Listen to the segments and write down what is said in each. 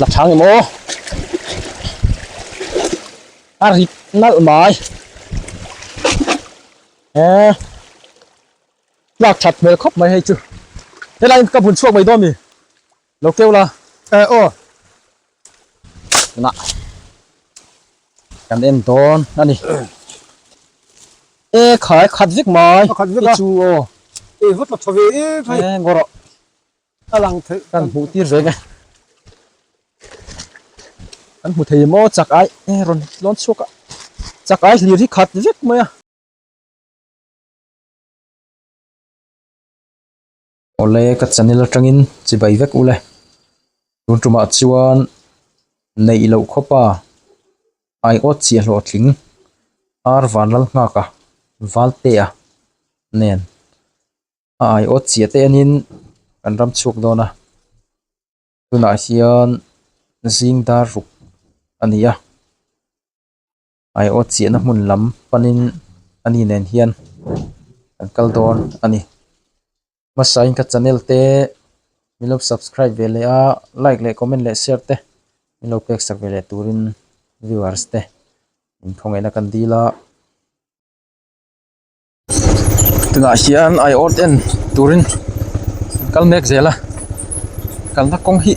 Lakhang ni maw? A rit nalh mai. Eh. Lak that hmel khawp mai hei chu. Helain ka bun chhuak mai dawn mi. Lo keu la. Eh oh. Na. Kan en dawn ani. Eh khai khat vek mai. Khat vek a. Chu oh. Eh vut la thaw ve em phai. Eh goro. A lang thei kan hmuh tir ve nge. Kan hmu thei maw chak ai e rawn lawn chhuak a. Chak ai hlir hi khat vek mai a. Awle ka chanel atangin chibai vek ule. Tun tumah chuan neih loh khawpa ai awt chiah hlawh tling ar vanlal nghaka valte a nen. a aiawt chiah te anin kan ram chhuak dawn a tunah hian zing dar ruk a ni a aiawt chiahna hmun lam panin a ni nen hian kan kal dawn a ni hmasa in ka channel te min lo subscribe ve leh a like leh comment leh share te min lo pek sak ve leh turin viewers te inkhawngei na kan dil a. tunah hian aii awrd en turin an kal mek zel a kalna kawng hi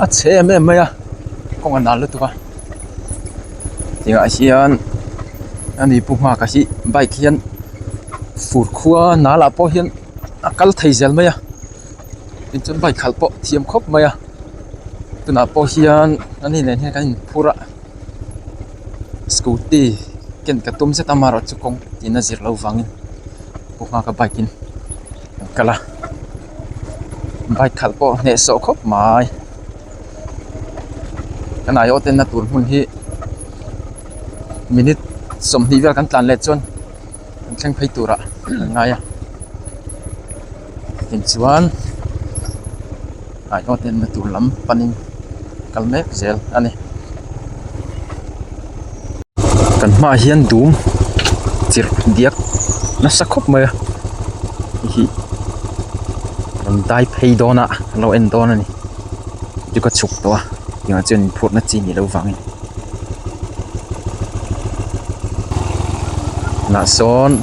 a chhe em em mai a kawng a nal lutuk a tunah hian a nupu nghakah hi bike hian fur khua nal ah pawh hian a kal thei zel mai a tin chu bike khalh pawh thiam khawp mai a tunah pawh hian an inneihna hi an inphur a. scooty khian ka tum zet a amaherawhchu chu kawng tina zir loh vangin ka hma ka bike in kan kal a bike khalh pawh hneh sawh khawp mai kan aiawh atan na tur hmun hi minute sawmhnih vel kan tlan leh chuan an thleng phei turah kan ngai a. Hei chuan hnaihhlawh nen na tur lam panin kal mek zel a ni kan hma ah hian dum chirh diak nasa khawp mai a hei hi rawn dai phei dawn a an lo en dawn a ni chu ka chhuk tawh a tih ah chuan in phurh na chi nih loh vang in tunah sawn--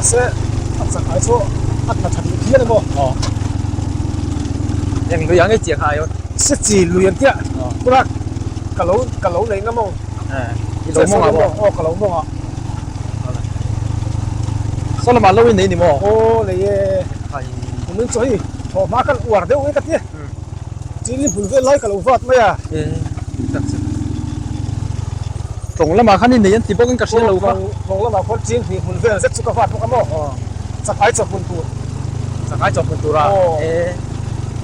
Ase, a chak ai chu a tla tha duh hial emaw? Aw. Eng lui ang e chiang ai aw. Se chi lui ang tia. Aw. Tura ka lo, ka lo nei ngam ang. Eh. I lo mawng ang aw. Aw ka lo mawng ang. Saw lamah lo in nei ni maw? Aw nei e. Ai. Kum in chu hei thawh hma khan uar deuh e ka ti. Chini bul vel lai ka lo vat mai a. Tlawng lamah khan i nei an ti bawk in ka hrial lo va. Tlawng lamah khawn Chin hnih bul vel zet chu ka vat bawk a maw? Chakhai chawk hun tur. Chakhai chawk hun tur a? E.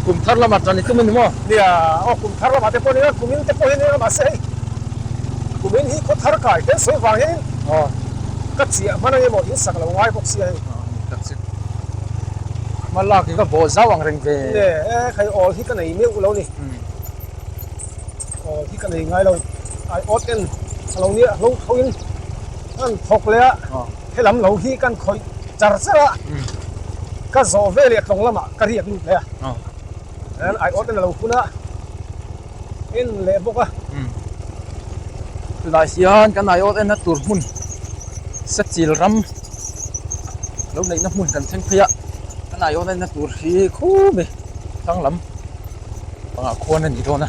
Kum thar lamah tan i tum a ni maw? Nia, aw kum thar lamah te pawh a ni a, kum in te pawh hi a ni a, mahse hei kum in hi khaw thar kai tel sawi vang hian in ka chiah hman ang emaw in sak lo ngai bawk sia hei. Hma lak hi ka bawh zau ang reng ve. Nge, e khai awl hi ka nei meuh lo ni. Awl hi ka nei ngai lo. Ai awt en a lo nia hlo hlo in kan thawk leh a, helam lo hi kan khawih char char a, ka zawh veleh tlawng lamah ka riak lut leh a, ai awt en a lo hun a. Eng leh bawk a. Tunah hian kan aiawt en a tur hmun Sachil ram lo neih na hmun kan thleng phei a, kan aiawt en a tur hi khumi Thlang lam panga khuan a ni dawn a.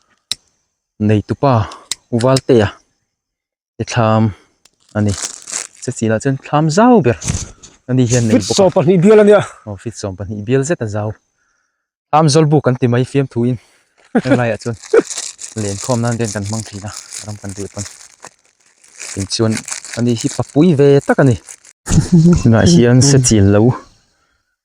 neitupa uvalte a te thlam a ni Chawchîl ah chuan thlam zau ber a ni hian a nei bawk a fit sawm pahnih bial a ni a aw fit sawm pahnih bial zet a zau thlam zawl bûk kan ti mai fiamthuin heng laiah chuan len khâwm nân vel kan hmang thin a a ram kan reh pawn tin chuan a ni hi papui ve tak a ni tunah hian Chawchîl lo.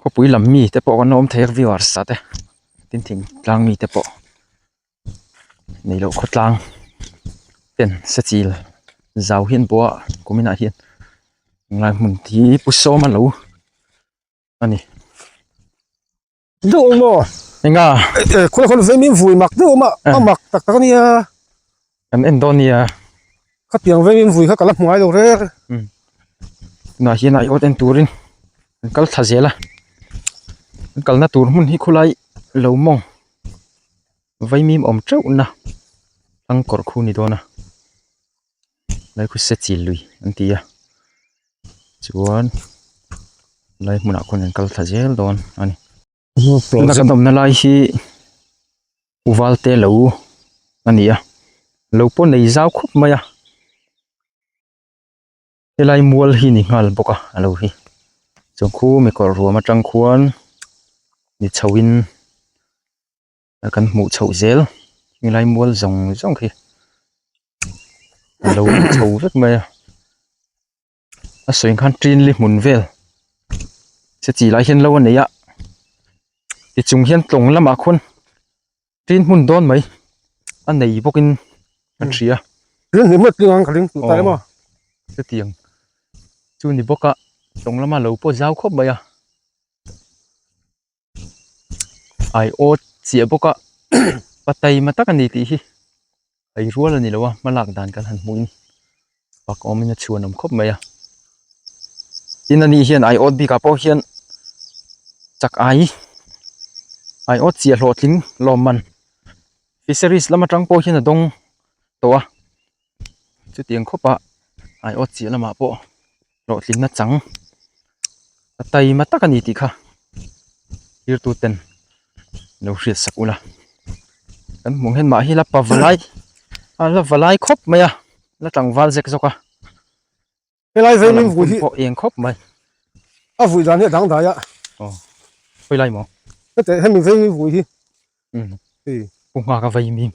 khawpui lam mi te pawh kan awm thei a viau a arsa te tin thingtlang mi te pawh nei loh khawtlang ten se chil zau hian pawha kuminah hian hnai hmun hi pu sawm a lo a ni enga khawla khawl vei mian vuai mak deuh a awm a a mak tak tak a nia. Kan en dawn nia. Khatiang vengin vui kha ka la hmuai lo rer. Um. Tunah hian a iawt en turin kan kal thla zel a. Kan kalna tur hmun hi khulai lo mawng vaimim awm teuhna hlang kawr khu ni dawn a. Lai khuse chil lui an ti a. Chuan lai hmunah khuan an kal thla zel dawn a ni. tuna kan awmna lai hi uvalte lo a ni a lo pawh nei zau khawp mai a helai mual hi a ni nghal bawk a a lo hi chung khu mi kawr ruam atang khuan mi chho in a kan hmuh chhoh zel helai mual zawng zawng hi a lo chho vek mai a. a sawi khan trinli hmun vel se chi lai hian lo a nei a ti chung hian tlawng lamah khawn trin hmun dawn mai a nei bawk in a hria hetiang chu ni bawk a tlawng lama lo pawh zau khawp mai a. ai aw chiah bawk a pa taima tak a ni tih hi ai rual a ni lo a hma lak dan kan han hmuh in pak awm in a chhuan awm khawp mai a tin a ni hian ai awt bik ah pawh hian chak ai ai awt chiah hlawhtling lawmman fisheries lam atang pawh hian a dawng tawh a. chutiang khawpa aiawt chiah lamah pawh hlawhtlinna chang a time tak a ni tih kha zirtuten lo hriatsak ula kan hmuh nghen mah hi la pava lai a la va lai khawp mai a la tlangval zek zawk a. helai vei min vui hi pawh eng khawp mai a vui dan hi dang dai a o hoi lai mo hete hemi vei min vui hi um e pu nga ka vei mi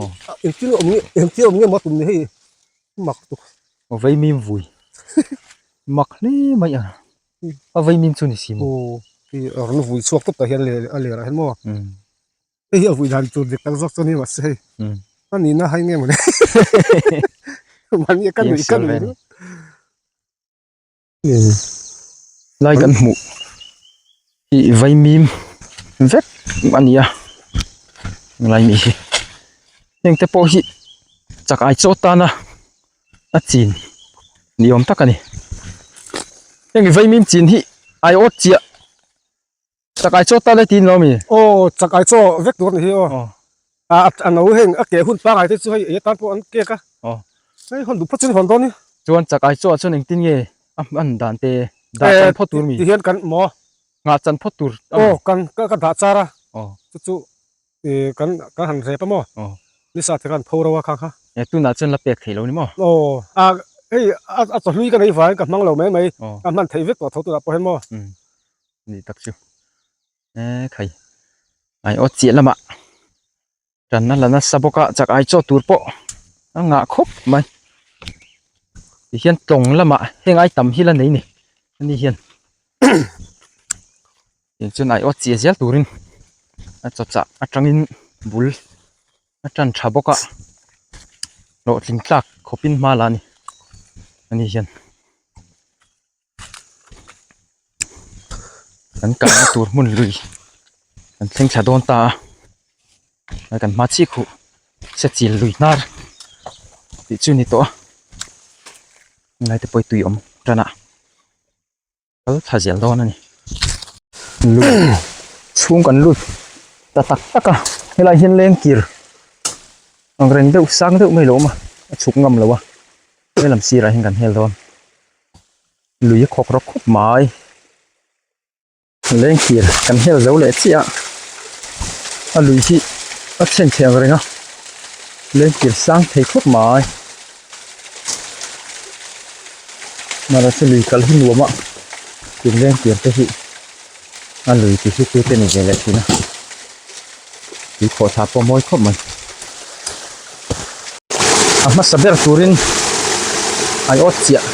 o em ti om ni em ti om ni ma tum ni hei mak tu o vei min vui mak hle mai a a vei min chu ni si mo o ti a vui chhuak tawp ta hian le a le rah hian mo um Hei hi a vuih dan tur dik tak zawk chuan hi mah se hei. Ka nih na hai nge mawni. Mani ka nih ka nih lut. Lai kan hmuh hi vaimim vek a ni a lai mi hi. Heng te pawh hi chak ai chaw tana a chin ni awm tak a ni. Heng vaimim chin hi aiawt chiah Chakai chaw tan a ti lo a mi. Aw chakai chaw vek tur a ni hi aw. A a no heng a ke hun pangai te chu hei ei atan pawh an kek a. Aw. Hei hawn duh phawt chu ni hawn dawn i. Chuan chakai chawah chuan engtin nge a han dan te dah chan phawt tur a mi. Ti hian kan maw. Nghah chan phawt tur a mi. Aw kan ka ka dah char a. Aw. Chu chu i kan kan han rep a maw. Aw. Ni sa te kan pho ro a kha kha. E tunah chuan la pek thei lo ni maw. Aw a hei a a chawhlui ka nei vangin ka hmang lo mai mai. Aw. Ka hman thei vek tawh a tho tunah pawh hian maw. Um. ni tak chu eee khai ai aw chiah lamah kan la la nasa bawk a chak ai chaw tur pawh a ngah khawp mai tihian tawng lamah heng ai tam hi la nei ni ani hian tin chuan ai aw chiah ziah tur in a chaw chak atang in bul a tan tha bawk a hlawhtling tlak khawp in hma lah a ni ani hian. kan kalna tur hmun lui kan thleng thla dawn ta a a kan hma chiah khuh hre chil lui hnar tih chu a ni tawh a ngaite pawh tui awm tana kal thla zel dawn a ni chhung kan lut ta tak tak a helai hian lengkir angreng deuh sang deuh mai a lo awm a a chhuk ngam lo a he lam sirah hian kan hel dawn. lui a khawk rawk khawp mai lengthir kan hel zo leh chiah a a lui hi a chhen chhiang reng a lengthir sang thei khawp mai mahse lui kal hi nuam a ken lengthir te hi. A lui ti hi chu te ni ve leh thin a, tui khawh thla pawh a mawi khawp mai. A hmasa ber turin ai awt chiah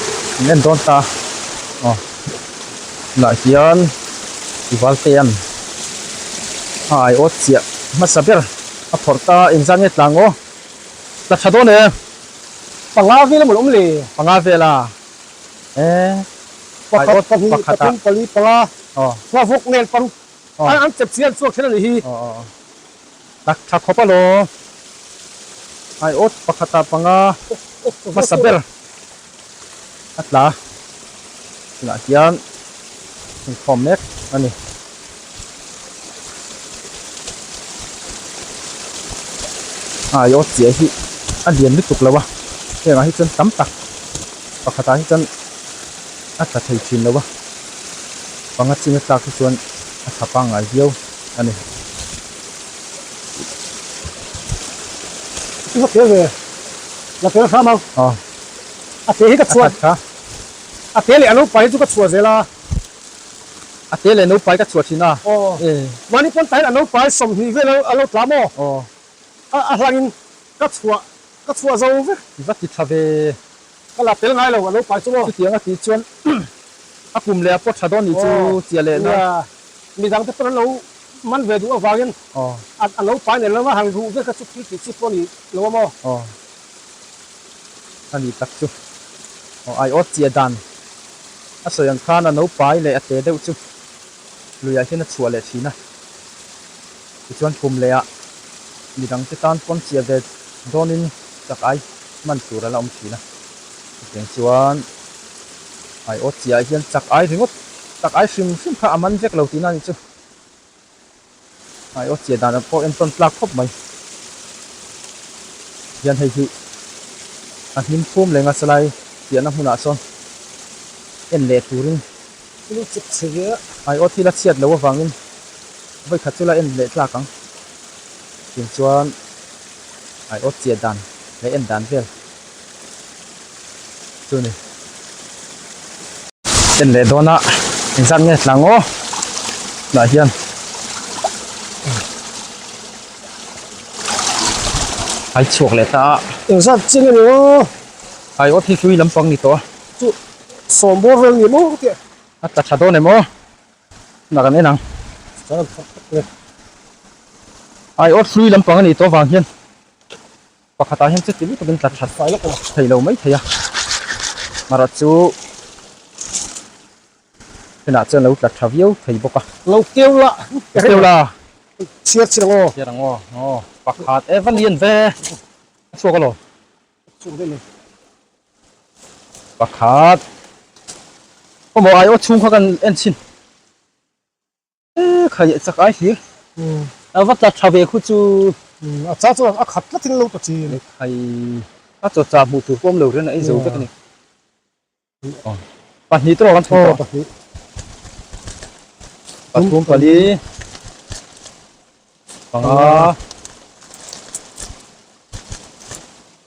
an en dawn ta a, aw tunah hian Ivalte an a ai awt chiah hmasa ber a phawrh ta a, engzah nge tla ngaw, tla tha dawn e. Panga vel a mawlh awm le. Panga vel a. Eh, pakhat, pahnih, pathum, pali, panga, hma vawk nel paruk an chep chian chuak thil a nih hi. Thla khawpa law, aiawt pakhata panga hmasa ber a tla a, tunah hian inkhawm mek a ni. Ai aw chiah hi a lian lutuk lo a hengah hi chuan tam tak pakhatah hi chuan a tla thei thin lo a panga chinga tlak hi chuan a tha pangngai viau a ni chu ka tel ve la tel hram ang a te hi ka chhuah a te leh a lo pai hi chu ka chhuah zel a. A te leh no pai ka chhuah thin a. Aw. E. Mahni pawn tahin a no pai sawmhnih vel a lo tla maw? Aw. A a hlangin ka chhuah ka chhuah zo vek. I va ti tha ve. Ka la tel ngai lo a no pai chu maw? Chutiang a tih chuan a kum leh a pawt tha dawn nih chu chia leh na. Nia. Mi dangte pawn an lo man ve duh avangin a a no pai nelh lam a han ruh vek a chu thil tih chi pawh a ni lo a maw? Aw. a ni tak chu aw ai awt chi a dan a sawi ang khan a naupai leh a te deuh chu luiah hian a chhuah leh thin a tichuan kum leh ah mi dang te tan pawn chhiah ve dawn in chak ai man tur ala awm thin a chutiang chuan ai awt chi ah hian chak ai ringawt chak ai hrim hrim kha a man vek lo tihna ni chu. Ai aw chia dan pawh en tawn tlak khawp mai. Hian hei hi a hnim khum leng a salai piahna hmunah sawn en leh turin thil i chep chhe ve a. Ai aw thil a chhiat loh avangin vawikhat chu la en leh tlak ang. Tin chuan ai aw chia dan leh en dan vel. chu ni en leh dawn a in zam nge tlang aw tunah hian hai chhuak leh ta a in zam ching a ni aw hai aw thik hlui lampang ni tawh a chu sawm bawr reng ni maw tih a ta tha dawn em aw tunah kan en ang hai aw hlui lampang a ni tawh vang hian Pakhatah hian chu ti lutuk in tla that fai lawk a theih lo mai thei a, Mara chu khenah chuan lo tla tha viau thei bawk a. Lo keu la, ka keu la, chhiar chhiar ang aw. Chhiar ang aw, aw pakhat e valian ve a chhuak a law. Chhuak daih lo. Pakhat, pawh maw ai aw chhung kha kan en chin. Eee kha leh chak ai hlir a va tla tha ve khu chu. Umm a cha chuan a khat tlatin lo ta chin. Ni phai a chaw chah hmuh tur pawh awm lo rian a eizo vek a ni. Aw pahnih tawrh ang an thum tawh. Aw pahnih. Pathum pali panga.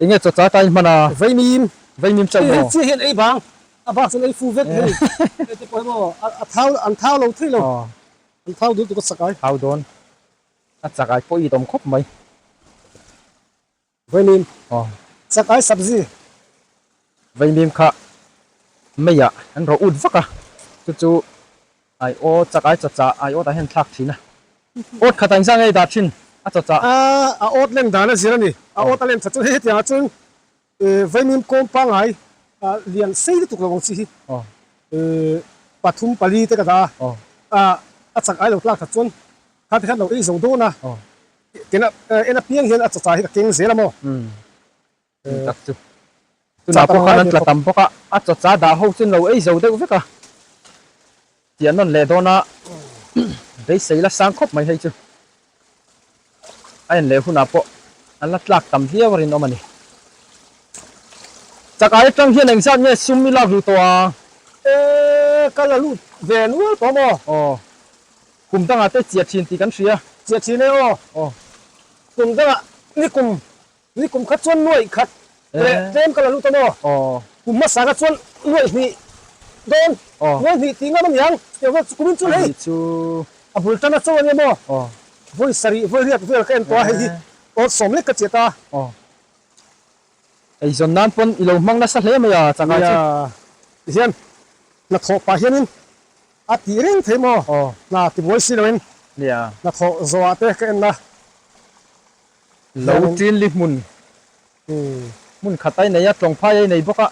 Enge chaw cha tain hman a? Vaimim, vaimim chauh maw? Chiah hian ei vang, a bak chuan ei fu vek hei. Hei te pawh hi maw, a thau, an thau lo thei lo. An thau dawn tuk a chak ai. Thau dawn a chak ai pawh i dawm khawp mai. Vaimim, chak ai sabzi. Veinim kha Meiah an rawh ut vak a, chu chu ai aw chakai chacha ai awtah hian thlak thin a, awt khatah inzam ngei dah thin a chacha. A awt leng dan a zir a ni, a awt a lem tha chu hetianga chuan Veinim kawm pangai lian sei lutuk lo ang chi hi pathum pali te ka dah a, a chakai lo tlak tha chuan khate khan lo ei zo dawn a, kena en apiang hian a chacha hi ka keng zel a maw. Ni tak chu. Tunah pawh khan an tla tam bawk a, a chawcha dah ho chu no ei zo deuh vek a, tih an rawn leh dawn a, beisei la sang khawp mai hei chu a en leh hunah pawh an la tlak tam viau a rinawm a ni. Chakah atang hian engzat nge sum i lak ru tawh ang? E, ka la lut ve nual tawh maw? Aw, kum dangah te chia thin tih kan hria. Chia thin e aw. Aw. Kum dangah ni kum Tui kum khat chuan nuaih khat leh tlem ka la lut a maw? Kum hmasa khat chuan nuaih hnih dawn nuaih hnih tih ngam a niang. Chutiang vel chu kumin chuan hei a bul tan acho ania maw? Vawi sarih vawi riat vel ka en tawh a, hei hi awr sawm lek ka chiah ta. Eizawn nan pawn i lo hmang nasa hle mai a changah chu. Ti hian hnathawh pah hianin a tih reng thei maw? Hna tibuai si loin hnathawh zawhah te ka en la. Lo tlinli hmun hmun khat ai nei a, tlawng phai ai nei bawk a,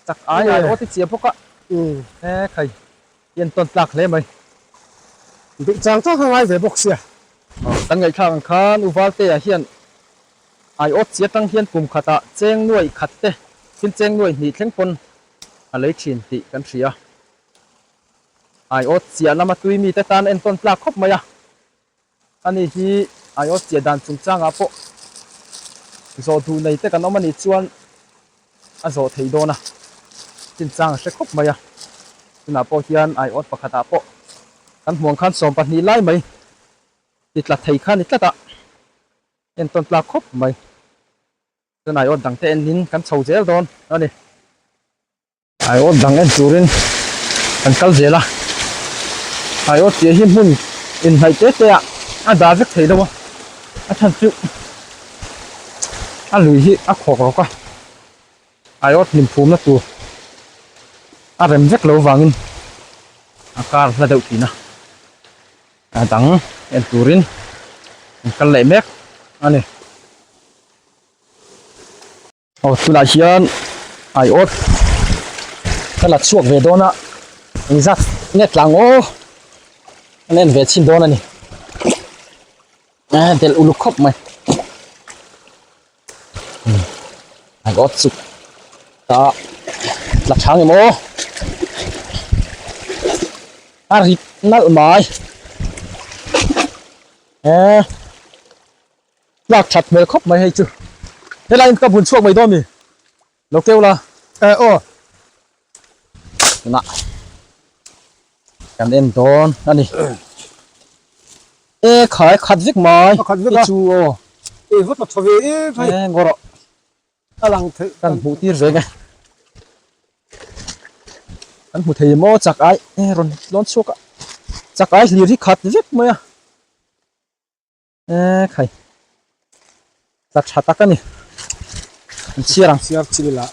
chak ai ai awt i chhiah bawk a, he khai i entawn tlak hle mai. Duh chang chang a ngai ve bawk sia. Kan ngaihthlak ang khan U Valtea hian ai awt chhiah tang hian kum khatah cheng nuai khat te, thil cheng nuai hnih thleng pawn a lei thin tih kan hria a. Ai awt chhiah lama tuimite tan a entawn tlak khawp mai a, A nih hi IOS tih dan chungchangah pawh zawh duh nei te kan awm a nih chuan a zawh theih dawn a, chin chang a hre khawp mai a, tunah pawh hian IOS pakhatah pawh kan hmuang khan sawm pahnih lai mai ti tla thei kha ni tlata en tawn tlak khawp mai, chuan IOS dangte enin kan chho zel dawn a ni. Ai awt dang en turin kan kal zel a, ai awt tih hi hmun inhnaih te te ah a dah vek thei lo a, a chhan chu a lui hi a khawk rawk a, ai awt hlim phumna tur a rem vek lo vangin a kar hla deuh thin a, a dang en turin kan kal leh mek a ni. Aw tunah hian ai awt ka la chhuak ve dawn a eng zat nge tlang maw an en ve chin dawn a ni a del uluk khawp mai ai awt chu ta la chang em aw a rit nalh mai eh Tlak that hmel khawp mai hei chu. Helain ka bun chhuak mai dawn mi lo keu la. Eh aw. Tunah kan en dawn a ni. Eh khai khat vek mai. A khat vek a. I chu aw. Eh va ta tha ve em phai. Eh ngawrh awh. A lang theih. Kan hmuh tir ve nge. Kan hmu thei maw chak ai eh rawn lawn chhuak a. Chak ai hlir hi khat vek mai a. eee khai tla tha tak a ni an chhiar ang chhiar chil ila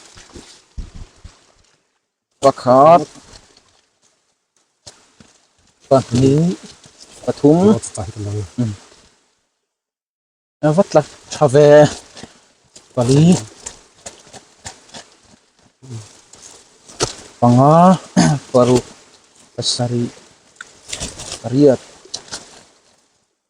pakhat pahnih pathum a va tla tha ve pali panga paruk pasarih pariat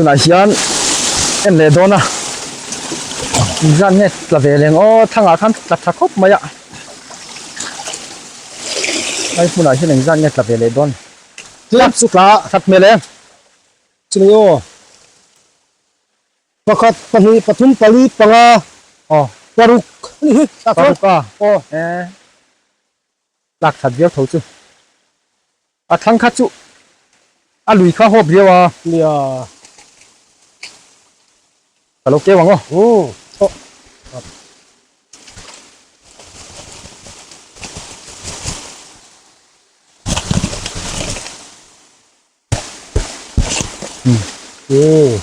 tunah hian en leh dawn a inzam nge tla ve leng aw thlangah khan tla tha khawp mai a ai hmunah hian engzat nge tla ve leh dawn tlap chu tla a that hmel em chumi aw pakhat pahnih pathum pali panga aw paruk ni hi paruk a aw e lak that viau tho chu a thlang khat chu a lui kha hawp viau a nia ka lo keu ang aw u thaw Ooh.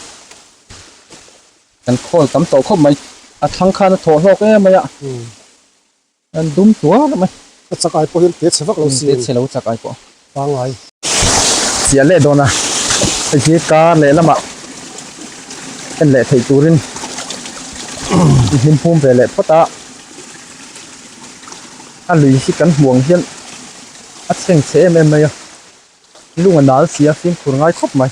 Kan khawl tam tawh khawp mai. A thlang khan a thawh hlawk em mai a. An dum tuar mai. Ka chak ai pawh hian te chhe vak lo si. Te chhe lo chak ai pawh. Pangngai. Chiah leh dawn a. Hei hi kar leh lama en leh theih turin i hlim pum ve leh phawt a. A lui hi kan hmuh ang hian a chheng chhe em em mai a. Lung a nal si a, fimkhur ngai khawp mai.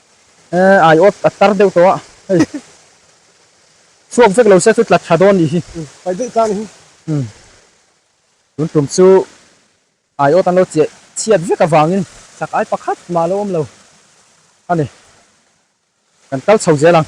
Eh ai aw a tar deuh tawh a. Hei. Chhuak vek lo se chu tla tha dawn nih hi. Pai daih tlang hi. Umm. Tun tum chu ai aw tan lo chiah chhiat vek avangin sak ai pakhat mah lo awm lo a ni. Kan kal chho zel ang.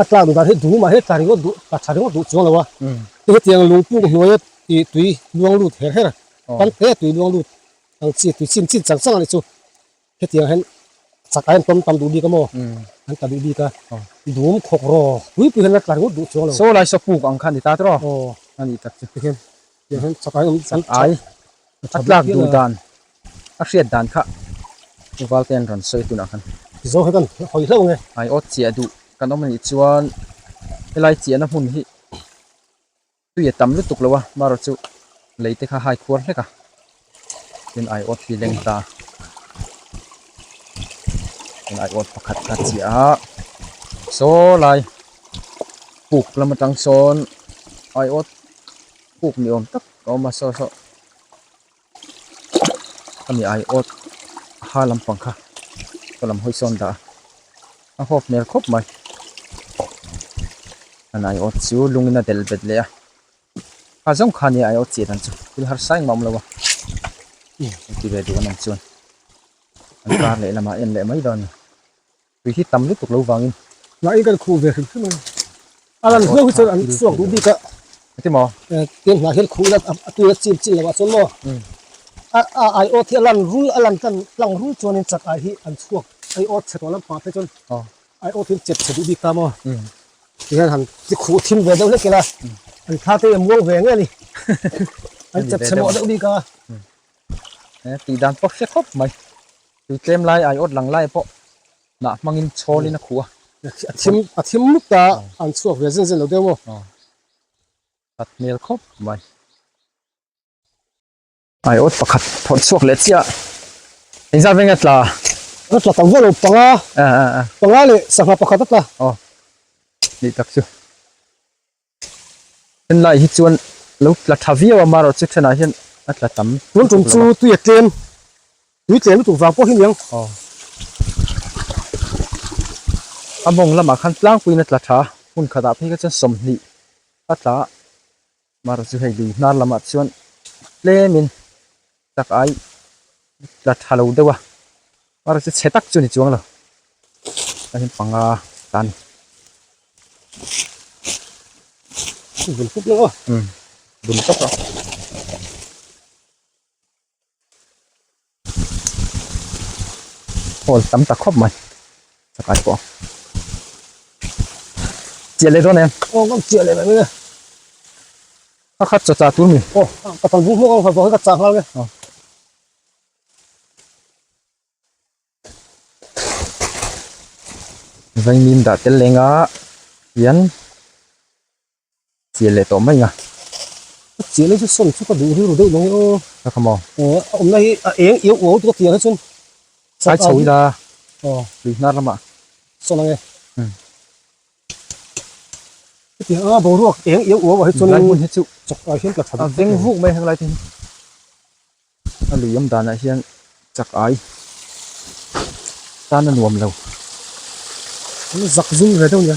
A tlak duh dan hi duh mah he tla ringawt duh tla tha ringawt duh chuang lo a, kei hetiang lungpuk hnuaia tih tui luang lut her her kan hneh a tui luang lut ang chi tui chim chim chang chang a nih chu hetiang hian chak aiin tlawm tam duh bik a maw an ta duh bik a dum khawk rawh pui pui hian a tla ringawt duh chuang lo. Saw lai saw puk ang kha a ni ta tawh aw a nih tak chu. Chak ai a tlak duh dan a hriat dan kha Uvalte an rawn sawi tunah khan ai aw chiah duh kan awm a nih chuan helai chiahna hmun hi tui a tam lutuk lo a marawh chu leite kha haikhuar hlek a. tin ai awt hi leng ta tin ai awt pakhat ka chhiah a saw lai puk lam atang sawn ai awt puk ni awm tak a awm a saw saw hemi ai awt ha lampang kha hma lam hawi sawn dah a a hawk hmel khawp mai an ai awt chu lungin a del bet leh a. Kha zawng kha nia I aw chiat ang chu thil harsa engmah a awm lo a i kan ti ve duh an awm chuan an kar leh lamah en leh mai dawn a tui hi tam lutuk lo vangin mahni kan khuh ve hrim hrim a alan hlo hi chuan an suak duh bik a ti maw tiang hnah hian khuh ila a tuia chil chil lo a chuan maw a a I aw thi alan rul alan kan tlang rul chuan in chak ah hi an chhuak I aw chhe tawh lam pah phei chuan I awp in chet chhe duh bik ta maw? Ti hian han ti khuh a thim ve deuh hlek ila, an thla te hian muang ve nge ni? An chet chhe mawh deuh bik a. Eng tih dan pawh hre khawp mai. Tui tlem lai ai awt lang lai pawh hnah hmangin chhawl in a khuh a. A thim, a thim mut ta an chhuak ve zen zen lo deuh maw? Khat hmel khawp mai. Ai awt pakhat phawrh chhuak leh chiah eng zat venga tla a tla tam velo panga panga leh sangha pakhat a tla aw ni tak chu en lai hi chuan lo tla tha viau a marawh chu thenah hian a tla tam tun tum chu tui a tlem tui tlem lutuk vang pawh hi niang aw a mawng lamah khan tlangpuiin a tla tha hun khatah phei kha chuan sawmhnih a tla. Mara chu hei lui hnar lamah chuan tlemin chak ai tla tha lo deuh a, Mara chu chhe tak chu ni chuang lo chuan in panga tan bul tawk lo a. Hall tam tak khawp mai sakai pawh chia le dawn em aw kan chia le mai a khat cha cha tur mi aw ka tan bu mawk ang kha ka cha ngal nge vainim dah tel lenga hian Chiah leh tawh mai nia. Ka chiah mai chu sawn chu ka duh rilru daih loh aw. Ka kha maw? Aw a awmna hi a eng iau uau tuk a tiang hi chuan. Ai chho ila lui hnar lama. Sawn ange. Chutiang a boruak eng iau uau ah hi chuan. Helai hmun hi chu chawk ah hian tla tha dup vek a ni. A veng vuk mai a heng lai te hi. A lui awm danah hian chak ai tan a nuam lo. An zak zum ve deuh nia.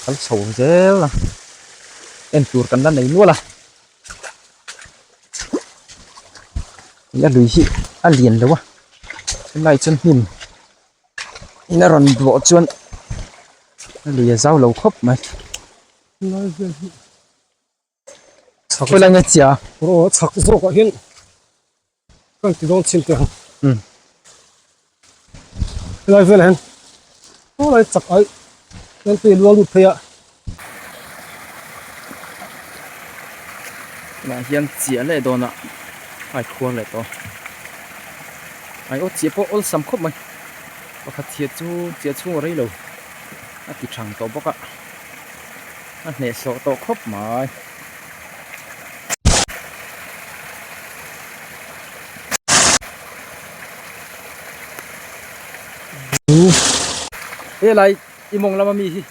Kal chho zel a. En tur kan la nei nual a. I a lui hi a lian lo a. Chulai chuan hnim in a rawn duah chuan a lui a zau lo khawp mai. Chhakna nge chia? Aw, chhak zawkah hian kan ti dawn chin teh ang. Hmm. Helai vel hian, aw lai chak ai, kan tui luang lut phei a. Tunah hian chia leh dawnah ai khuar leh tawh. Ai aw, chia pawh awlsam khawp mai. Pakhat hi chu chia chhunga rei lo a ti thang tawh bawk a. a hnehsawh tawh khawp mai. He lai i mawng lama mi hi.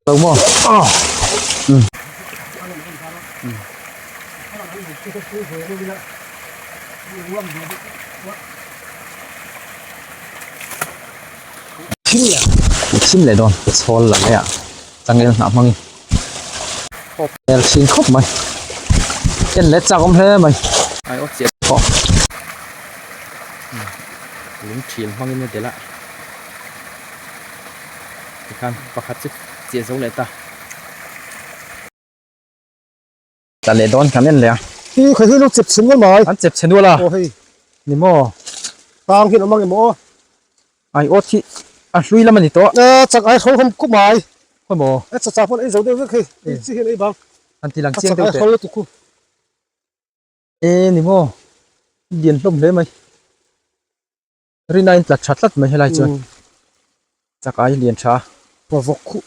Lo maw? Chhim leh dawn ka chhawl la mai a changel hnah hmang in khawp hmel thin khawp mai en leh chak awm hle mai ai aw chiah pawh lung thil hmang in a del a tikhan pakhat chu chiah zo leh ta. Tla leh dawn kan en leh a. Ih kha hi lo chep chhe nual mai. An chep chhe nual a. Aw hei ni maw tang hi an awm ang em aw. Ai aw thi a hlui lam a ni tawh. Aa chak ai hrawng hawm khawp mai. Khaw maw. Ai chachak pawn ei zo deuh vek hei hei chi hian ei bang. Kan ti lang chiang deuh teh. A chak ai hrawng lutuk hu. E ni maw lian hlawm hle mai. Rin a in tlat tha tlat mai helai chuan. Chak ai lian tha. Pawh vawk khuh.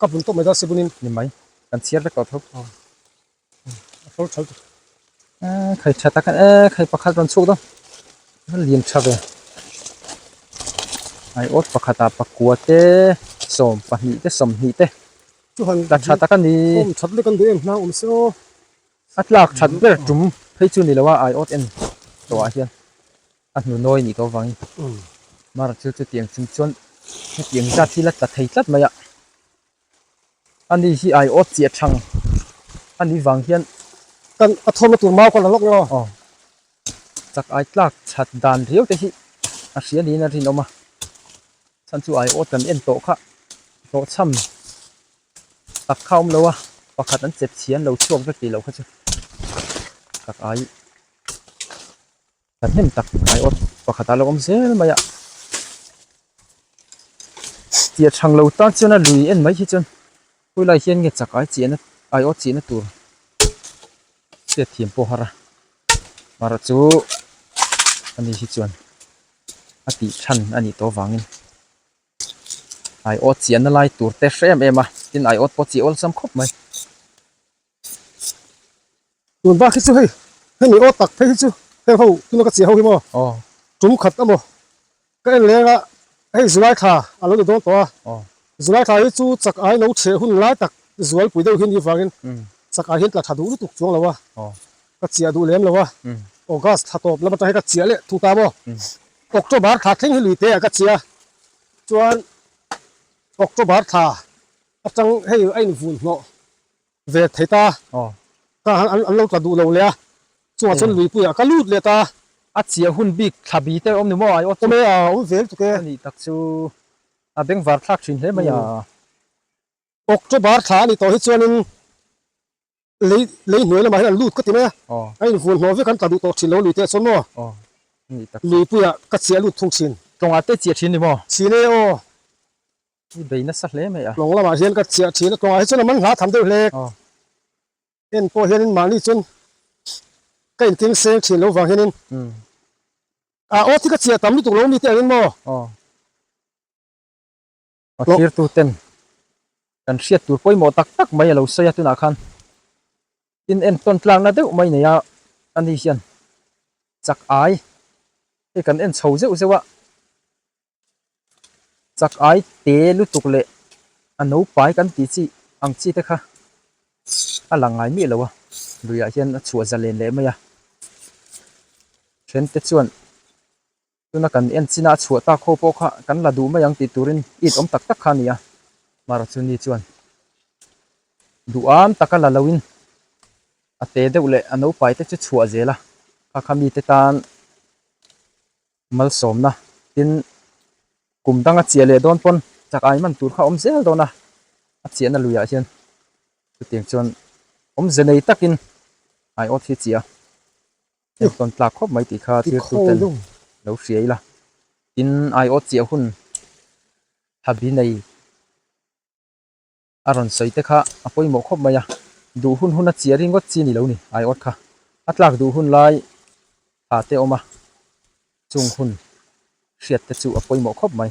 Ka bun tawp mai dawn sibunin ni mai kan chhiar vek tawh tho. A hlawr chho tawh. Eh, khai tha tak eh, khai pakhat rawn chhuk dawn. Ka liam tha ve. Ai ot pakhata pakua te, sawm pahnih te, sawmhnih te. Chu han ta tha tak a ni. Awm that lek an duh em hnang awm se aw. A tlak that ber tum phei chu ni lo a, ai ot en tawhah hian. A hnu nawi ni ko vang i. Mar thil chu tiang chhung chuan hetiang zat hi la tla thei tlat mai a. A ni hi ai awt chiah thang a nih vang hian. Ka a thawmna tur mau ka la lawk lawk. Aw. Chak ai tlak chhat dan riau te hi a hria niin a rinawm a. Chhan chu ai awt kan en tawh kha hlawh chham tak kha awm lo a, pakhat an chet chhian lo chhuak vek tih loh kha chu. Chak ai. ta hnem tak ai aw pakhat a lo awm zel mai a tia chhang lo tan chuan a lui en mai hi chuan pawi lai hian nge chak ai chiah na ai aw chihna tur che thiam pawh har a mar chu a ni hi chuan a tih than a nih tawh vangin ai aw chiah na lai tur te hre em em a tin ai aw pawh chi awlsam khawp mai. Tun bak hi chu hei, hemi aw tak phei hi chu heng ho tuna ka cheh ho hi maw? Tum khat a maw? Ka en leng a, hei Zulai thla a lo ni dawn tawh a, Zulai thla hi chu chak ai lo chhe hun lai tak Zualpui deuh hi ni vangin chak ai hian tla tha duh lutuk chuang lo a, ka chiah duh lem lo a, August thla tawp lam atang hian ka chiah leh thu ta maw? October thla thleng hi lui te ah ka chia, chuan October thla atang hei a invun hnawh Vek thei ta, ka han an lo tla duh lo le a, chungah chuan Luipuia ka lut leh ta. A chiah hun bik thla bi te awm ni maw? Awm e, awm ve lutuk e. Anih tak chu a beng var thlak thin hle mai a. October thla a ni tawh hi chuanin lei lei hnuai lamah hian an lut ka ti mai a, a invuan hnawh vek an tla duh tawh thin lo a Luitea chuan maw? Luipuia ka chiah lut thung thin. Tlawngah te chiah thin ni maw? Thin e aw. I bei nasa hle mai a. Hnawng lamah hian ka chiah thin a kawngah hi chuan a man hla tham deuh hle. Heng pawh hian in mahni chuan ka in tling seng thin lo vang hian in ah aw thi ka chiah tam lutuk lo mi te ang in maw? Ka thirtu ten kan hriat tur pawimawh tak tak mai a lo sawi a tunah khan in en tawn tlak na deuh mai nei a a ni hian chak ai hei kan en chho zeuh zeuh a Chak'ai te lutuk leh a naupai kan tih chi ang chi te kha a lang ngai miah lo a, luiah hian a chhuah za len leh mai a, then te chuan tuna kan en chin a a chhuah ta kho pawh kha kan la duh mai ang tih turin it awm tak tak kha a ni a, Mahrathu ni chuan duham taka la lo in a te deuh leh a naupai te chu chhuah zel a, kha kha mi te tan malsawmna tin kum danga chiah leh dawn pawn chak ai man tur kha awm zel dawn a a chiahna luiah hian chutiang chuan awmze nei takin ai awt hi chiah a heng tawn tlak khawp mai tih kha thirtuten lo hria ila tin ai awt chiah hun thabi nei. a rawn sawi te kha a pawimawh khawp mai a duh hun hun a chhia ringawt chi ni lo ni ai awt kha a tlak duh hun lai tha te awm a chung hun hriat te chu a pawimawh khawp mai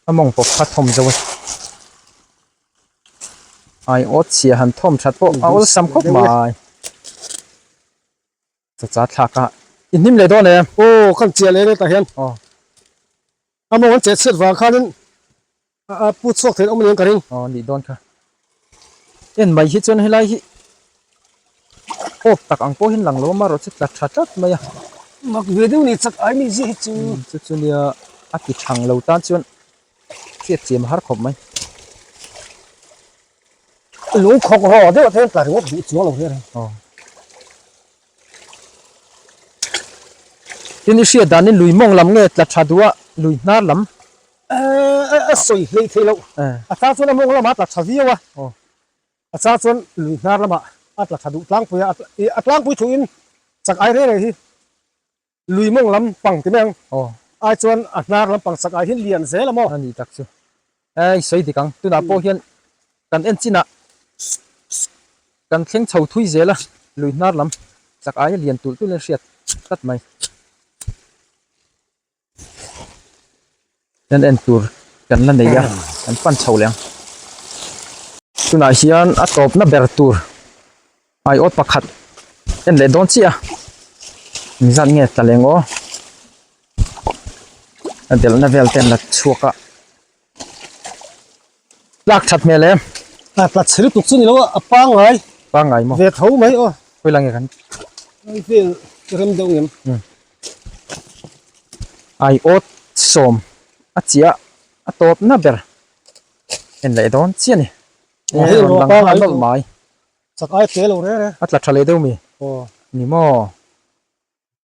a mawng pawp kha thawm zo a ai awt chhia han thawm that pawh a awlsam khawp mai. Chacha thlak a inhim leh dawn em? Aw khan chiah leh ret ah hian aw a mawng an chet chhiat vang khan in a put chhuak theih loh mawni ang ka ring. Aw nih dawn kha en mai hi chuan helai hi hawk tak ang pawhin lang lo amarawh chu tla tha tlat mai a. Mak ve deuh ni chak ai mi zia hi chu. Chu chu nia a ti thang lo tan chuan hriat chem a har khawp mai. Lung khawk rawh deuh te hian tla ringawt duh chuang lo hian. Aw. Tin i hriat danin lui mawng lam nge tla tha duha lui hnar lam. Aa a sawi hlei thei loh. A chang chuan a mawng lamah a tla tha viau a. Aw. A chang chuan lui hnar lamah a tla tha duh tlangpuia a tlangpui thuin chak ai reng reng hi. Lui mawng lam pang ti mai ang. Aw. Ai chuan a hnar lam pang sak aihin lian zel a maw? A nih tak chu. Ai sawi dik ang. Tunah pawh hian kan en chinah kan thleng chho thui zel a, lui hnar lam sak aia lian tulh tulh in a hriat tlat mai. Kan en tur kan la nei a, kan pan chho leh ang. Tunah hian a tawpna ber tur aiawt pakhat en leh dawn chiah a, eng zat nge tlaleng aw a delhna vel te an la chhuak a. Tlak that hmel em. Aa tlat chhe lutuk chu ni lo a, a pangngai. Pangngai maw. Ve tho mai aw. Khawih lah nge kan. Ai vel ka rem deuh ngem. Umm. Ai aw sawm a chiah a tawp na ber. En leh dawn chiah ni. Aw hei rawn lang hal nawlh mai. Chak ai tel lo rere. A tla tha leh deuh mi. Aw. Ni maw.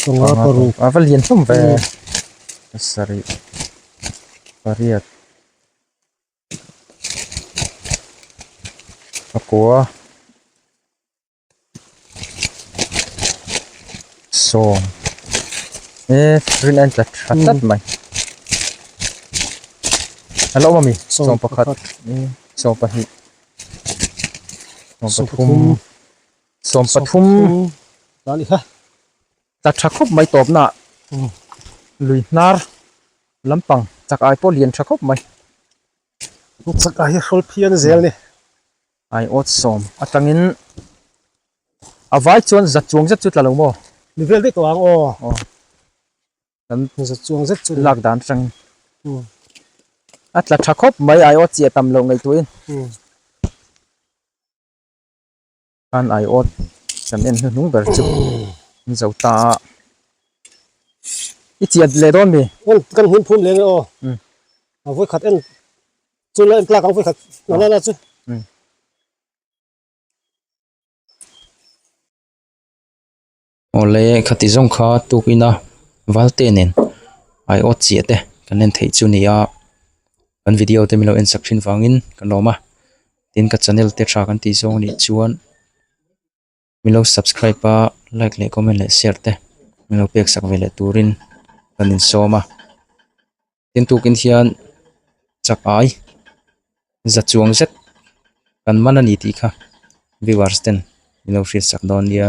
Chunga paruk. A va lian hlawm ve. Pasarih. Pariat. A kua. Sawm. E, rin an tlat tlat tlat mai. Hello, mami. Sawm pakhat. Sawm pakhat. Sawm pakhat. Sawm pakhat. Sawm pathum ta ni kha. Tla tha khawp mai tawpnaah lui hnar lampang chak ai pawh lian tha khawp mai. Hei chak ai hi hrawl phian zel ni. Ai awt sawm atangin a vai chuan zat chuang zet chu tla lo maw? Ni vel daih tawh ang aw. Aw. Kan zat chuang zet chu lak dan atangin. Hmm. A tla tha khawp mai ai awt chi a tam loh ngei tuin. Hmm. khan ai awt kan en hnu hnung ber chu an zauh ta a i chiat leh dawn mi kan kan hmun phum leh nge aw a vawi khat en chu la en tlak ang vawi khat na na chu awle khati zawng kha tukina valte nen ai awt chiah te kan en theih chu a ni a kan video te milo en sak thin vangin ka lawm a tin ka channel te tha kan tih zawng a nih chuan milo subscribe a like leh comment leh share te milo pek sak veleh turin kan insawm a. tin tukin hian chakai za chuang zet kan man a ni tih kha viewers ten ilo hriatsak dawn nia.